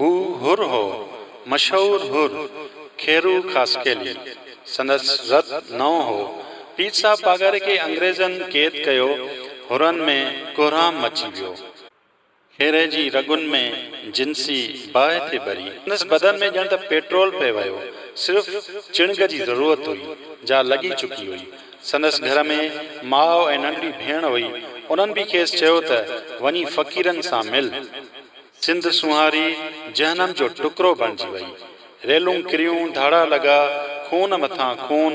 هو حر هو، مشهور حر، کيرو خاصخيلي. سندس رت نئون هو. پير صاحب پاڳاري کي انگريزن قيد ڪيو، حرن ۾ ڪهرام مچي ويو. کيري جي رڳن ۾ جنسي باهه ٿي ٻري. سندس بدن ۾ ڄڻ ته پيٽرول پئي وهيو. صرف چڻگ جي ضرورت هئي، جا لڳي چڪي هئي. سندس گهر ۾ ماء ۽ ننڍڙي ڀيڻ هئي، انهن به کيس چيو ته وڃي فقيرن سان مل. سنڌ سونهاري جهنم جو ٽڪرو بڻجي وئي. ريلون ڪريون، ڌاڙا لڳا، خون مٿان خون،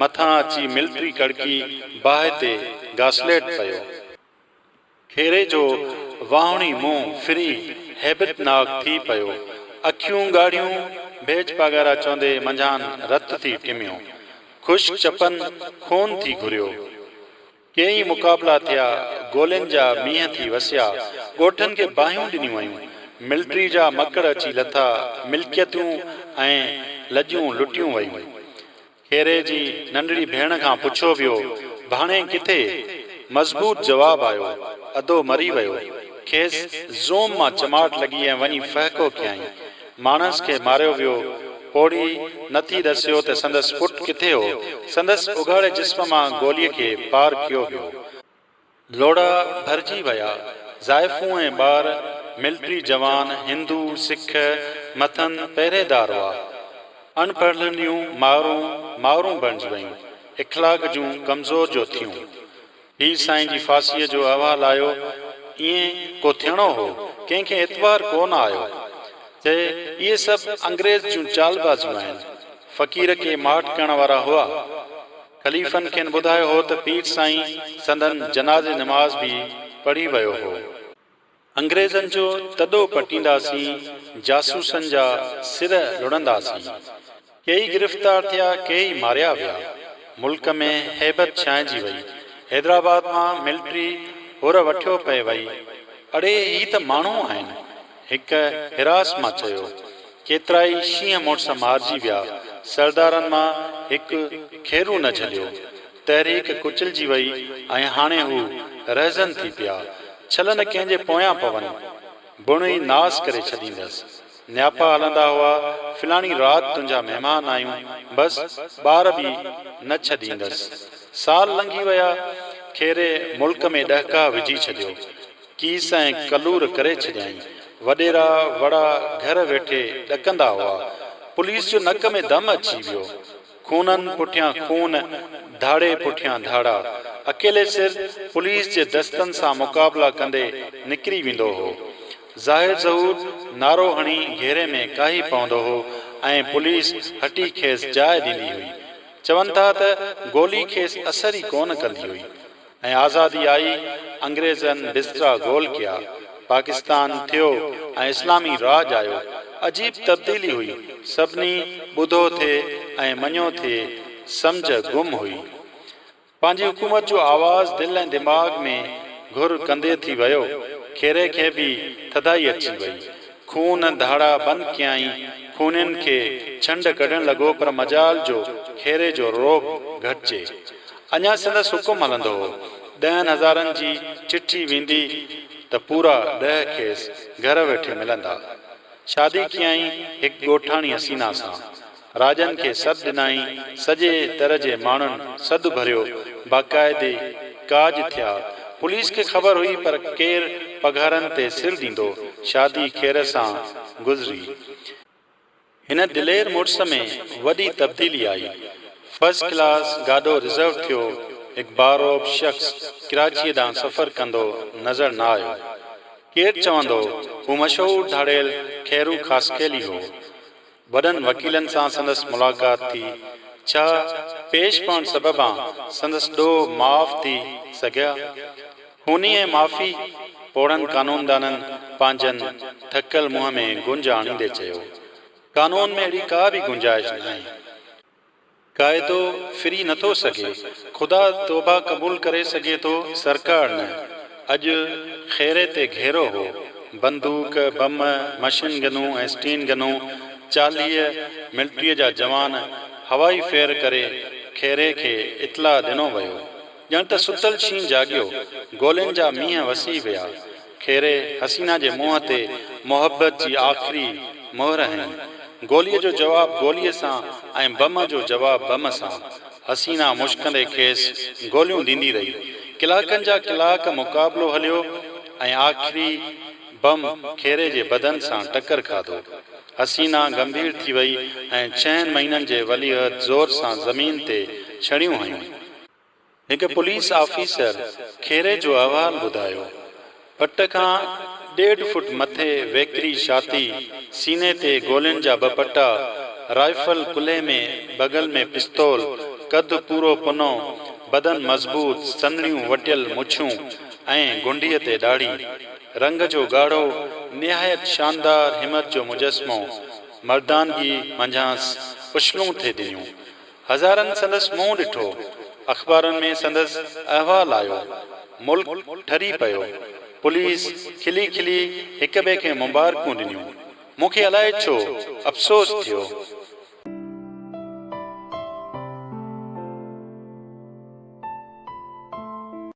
مٿان اچي ملٽري ڪڙڪي، باهه تي گاسليٽ پيو. کيري جو واهوڻي منهن ڦري هيبت ناڪ ٿي پيو. اکيون ڳاڙهيون، ڀيڄ پاڳارا چوندي منجهان رت ٿي ٽميو. خشڪ چپن خون ٿي گهريو. ڪي ئي مقابلا ٿيا، گولين جا مينهن ٿي وسيا، ڳوٺن کي باهيون ڏنيون ويون، ملٽري جا مڪڙ اچي لٿا، ملڪيتون ۽ لڄون لٽيون ويون. کيري جي ننڍڙي ڀيڻ کان پڇيو ويو، ڀاڻي ڪٿي؟ مضبوط جواب آيو، ادو مري ويو. کيس زوم مان چماٽ لڳي ۽ وڃي ڦهڪو ڪيائين. ماڻس کي ماريو ويو. پوڙهي نه ٿي ڏسيو ته سندس پٽ ڪٿي هو. سندس اگهاڙي جسم مان گوليء کي پار ڪيو ويو. لوڙها ڀرجي ويا. زائفون ۽ ٻار، ملٽري جوان، هندو، سک، مٿن پهريدار هئا. اڻ پڙهلنڊيون مائرون، مائرون بڻجي ويون. اخلاق جون ڪمزور جو ٿيون. پير سائين جي ڦاسيء جو احوال آيو. ائين ڪو ٿيڻو هو. ڪنهن کي اعتبار ڪو نه آيو. چئي، اهي سڀ انگريز جون چالبازيون آهن. فقير ڪي ماٺ ڪرڻ وارا هئا. خليفن کين ٻڌايو هو ته پير سائين سندن جنازي نماز به پڙهي ويو هو. انگريزن جو تڏو پٽينداسين، جاسوسن جا سر لڙنداسين. ڪيئي گرفتار ٿيا، ڪيئي ماريا ويا. ملڪ ۾ هيبت ڇانئجي وئي. حيدرآباد مان ملٽري هور وٺيو پئي وئي. اڙي هي ته ماڻهو آهن. هڪ هراس مان چيو، ڪيترائي شينهن مڙس مارجي ويا، سردارن مان هڪ کيرو نه جهليو. تحريڪ ڪچلجي وئي ۽ هاڻي هو رهزن ٿي پيا. ڇل نه ڪنهن جي پويان پون. بڻ ئي ناس ڪري ڇڏيندس. نياپا هلندا هئا، فلاڻي رات تنهنجا مهمان آهيون، بس ٻار به نه ڇڏيندس. سال لنگهي ويا، کيري ملڪ ۾ ڏهڪاء وجهي ڇڏيو. ڪيس ۽ ڪلور ڪري ڇڏيائين. وڏيرا وڙا گهر ويٺي ڏڪندا هئا. پوليس جو نڪ ۾ دم اچي ويو. خونن پٺيان خون، ڌاڙي پٺيان ڌاڙا. اڪيلي سر پوليس جي دستن سان مقابلا ڪندي نڪري ويندو هو. ظاهر ظهور نعرو هڻي گهيري ۾ ڪاهي پوندو هو ۽ پوليس هٽي کيس جاء ڏيندي هئي. چون ٿا ته گولي کيس اثر ئي ڪونه ڪندي هئي. ۽ آزادي آئي، انگريزن بسترا گول ڪيا، پاڪستان ٺھيو ۽ اسلامي راڄ آيو. عجيب تبديلي هئي، سڀني ٻڌو ٿي ۽ مڃيو ٿي، سمجھ گم هئي. پنهنجي حڪومت جو آواز دل ۽ دماغ ۾ گھر ڪندي ٿي ويو. کيري کي به ٿڌائي اچي وئي. خون ڌاڙا بند ڪيائين، خونين کي ڇنڊ ڪڍڻ لڳو پر مجال جو کيري جو رعب گھٽجي. اڃا سندس حڪم هلندو هو. ڏهن هزارن جي چٺي ويندي ته پورا ڏهه کيس گهر ويٺي ملندا. شادي ڪيائين هڪ ڳوٺاڻي حسينا سان. راڄن کي سڏ ڏنائين، سڄي در جي ماڻهن سڌ ڀريو، باقاعدي ڪاڄ ٿيا. پوليس کي خبر هئي پر ڪير پگهارن تي سر ڏيندو. شادي خير سان گذري. هن دلير مڙس ۾ وڏي تبديلي آئي، فرسٽ ڪلاس گاڏو رزرو ٿيو، هڪ باروب شخص ڪراچيء ڏانهن سفر ڪندو نظر نه آيو. ڪير چوندو هو مشهور ڌاڙيل خيرو خاصخيلي هو. وڏن وڪيلن سان سندس ملاقات ٿي، ڇا پيش پوڻ سببان سندس ڏوهه معاف ٿي سگهيا؟ هونئن معافي پوڙهن قانوندانن پنهنجن ٿڪل منهن ۾ گونج آڻيندي چيو، قانون ۾ اهڙي ڪا به گنجائش ناهي. قاعدو ڦري نٿو سگهي. خدا توبه قبول ڪري سگهي ٿو، سرڪار نه. اڄ خيري تي گهيرو هو. بندوق، بم، مشين گنون ۽ اسٽين گنون، چاليهه ملٽريء جا جوان هوائي فير ڪري خيري کي اطلاع ڏنو ويو. ڄڻ ته ستل شينهن جاڳيو، گولين جا مينهن وسي ويا. خيري حسينا جي منهن تي محبت جي آخري مهر هنئي. گوليء جو جواب گوليء سان ۽ بم جو جواب بم سان. حسينا مشڪندي کيس گوليون ڏيندي رهي. ڪلاڪن جا ڪلاڪ مقابلو هليو ۽ آخري بم خيري جي بدن سان ٽڪر کاڌو. حسينا گنڀير ٿي وئي ۽ ڇهن مهينن جي ولي عهد زور سان زمين تي ڇڻيون هنيون. هڪ پوليس آفيسر کيري جو احوال ٻڌايو، پٽ کان ڏيڍ فوٽ مٿي ويڪري شاٿي، سيني تي گولين جا ٻه پٽا، رائفل ڪلهي ۾ بغل ۾ پستول، قد پورو پنو، بدن مضبوط، سنهڙيون وٽيل مڇون ۽ گونڊيء تي ڏاڙهي. رنگ جو ڳاڙهو، نهايت شاندار همت جو مجسمو، مردانگي منجهانئس اڇلون ٿي ڏنيون. هزارن سندس منهن ڏٺو، اخبارن ۾ سندس احوال آيو، ملڪ ٺري پيو، پوليس کلي کلي هڪ ٻئي کي مبارڪون ڏنيون، مون کي الائي ڇو افسوس ٿيو.